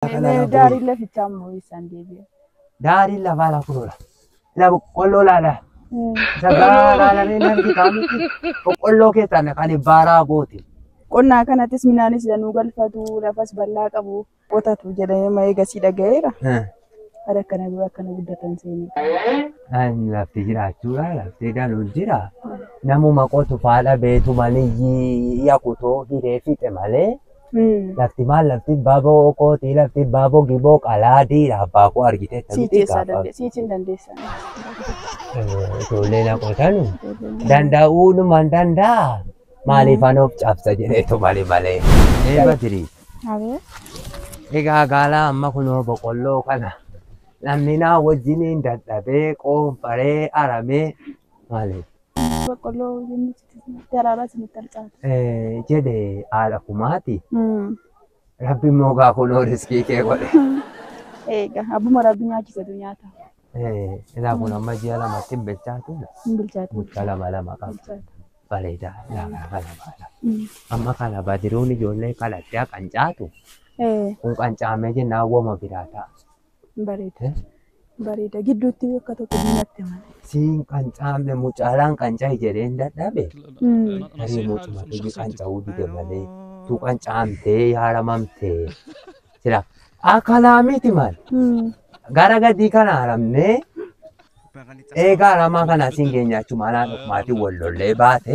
Mee kana mee laa daariin booyi. lafichaa immoo eessaan deebi'a? Daariin lafaa laa kunoodha. Ilaa boqqolloo laala. Isa gahaa laalamee nan bitaa miti. Boqqolloo keessaan kan baaraa goote. Qonnaa kanattis midhaanis danuu galfatu lafas bal'aa qabu. Qotatu jedhee ma eegasii dhaga'eera. Bara kana dura akkana guddatan seenee. Kan lafti jiraachuudha. Lafti danuun jira. Namuma qotu faadha beetu maniyyii yakutoo hiree fixe malee. Mm. Lafti maal lafti baaboo kootii lafti baaboo giboo qalaadii abbaa koo argitee Sii taphitee keessaa gaafa dandeessa. Sii hin dandeessan. ijoolleen akkuma sanu danda'uunumaan danda'a maaliif anoof cabsa jedheetu malee malee. Ee Badiri Abee. egaa gaalaa amma kunoo boqqolloo kana namni naa wajjiniin dadhabee qoonfaree aramee maaliif Boqqolloo daraabaa isinitti harcaate. jedhe haadha kumaati. Rabbi immoo gaa kunoo riskii kee godhe. Eega abbuma rabbi nyaachisatu nyaata. Ilaa kun amma ji'a lamatti hin bilchaatu. Hin bilchaatu. Mucha lama lama qaba. Bilchaata. Bareedaa. Ilaa kana kana baala. Amma kana badiruun ijoollee kadhadhaa qancaatu. Kun qancaamee jennaan woma biraa ta'a. Bareeda. Bareeda. Gidduutti akka tokko diinatti mana. Siin qancaamne mucaalaan qanca'e jedheen dadhabe. Tarii mucuma iji qanca'uu dide malee tuu qancaamtee yaaramamtee. Sila akalaa miti maal gara gadii kana haramnee eegaa haramaa kana siin geenyaachuu malaan dhufmaatiin wal lollee baate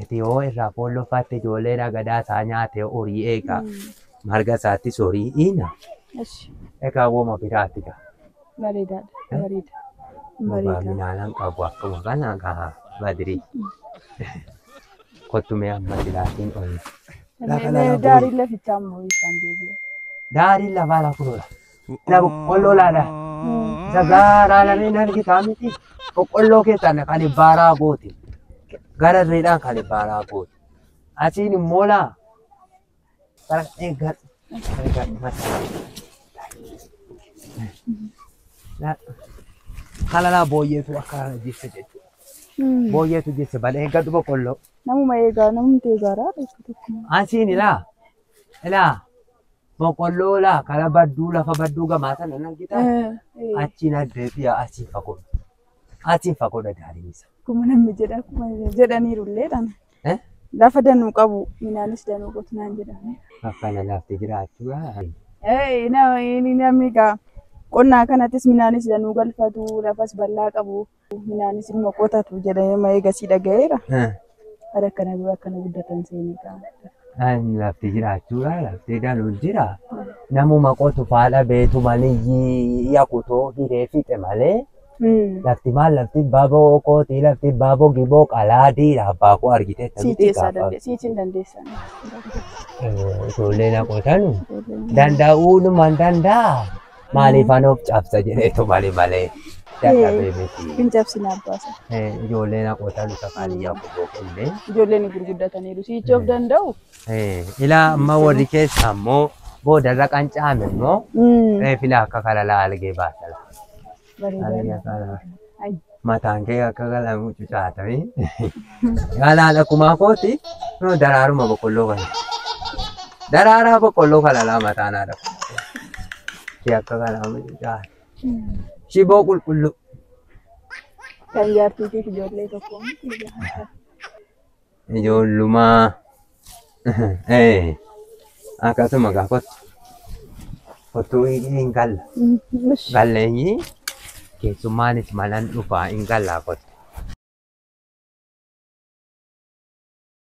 Ati yoo irraa foolloffaatte ijoollee dhagadaa isaa nyaate horii eegaa marga isaattis horii iina Eshi. egaa wooma biraati gaa. Bareedaadha. Bareeda. Bareeda. Baaminaalan qabu akkuma kana gaa badrii. Kottumee amma silaatiin ol. Lafa Mee- lafa mee Daariin lafichaa immoo isaan deebi'e. Daariin lafaa lafuudha. Kana boqqolloo laala. Isa gaaraa lameen argitaa miti. Boqqolloo keessaan kan baaraa goote. Gara irreedhaan kan baaraa goote. Asiin immoo laa. Bara eeggan. Eeggan mataa. Kana laa booyyeetu akka kana jisse jechuudha. Booyyeetu jisse bala eeggadhu boqqolloo. Namuma eegaa namumti eegaara. Asiin ilaa. Ilaa. Boqqolloo laa kana badduu lafa badduu gamaa sana nan gita. Achiin addee fi asiin fagoo. Asiin fagoo dadaaliin isa. Akkuma namni jedha akkuma jedhaniiru illee dhaan. Eh? Lafa danuu qabu midhaanis danuu qotu naan jedhame. Faffana laaftee jiraachuu. Eh, na- inni namni gaa qonnaa kanattis midhaanis danuu galfatu lafas bal'aa qabu Minaanis ilma qotatu jedhanii amma eegasii dhaga'eera. Bara kana dura akkana guddatan seenii ta'a. Lafti jiraachuudha. Lafti galu jira. Namuma qotu faadha beetu maliyyii yakutoo hiree fixe malee. Lafti maal lafti baboo kootii lafti baboo giboo qalaadiidha abbaa koo argitee Sii keessaa dandeessa. Sii hin dandeessan. Ijoollee na qotanu danda'uudhumaan danda'a. Maaliif anoof cabsa jedheetu malee malee dadhabee miti. Hin cabsin abbaasa. Eh, Ijoolleen haqootaan isa kaan iyyaa kuboo kenne. Ijoolleen gurguddataniiru. Siichi of danda'u. Eh, Ilaa amma warri keessa ammoo boodarra qanca'ame immoo reefila akka kalalaa algee baasala. Bareedaadha. mataan kee akka galaan mucucaatame galaan akkuma kooti noo daraaruma boqqolloo kana daraaraa boqqolloo kana laa mataan haadha kee akka galaan mucucaate shiboo qulqulluu Kan jaartii fi ijoollee tokko. Ijoollumaa. Eh. Akkasuma gaa kottu. Kottu hin galla. Galleenyi keessummaanis malan dhufaa hin gallaa kottu.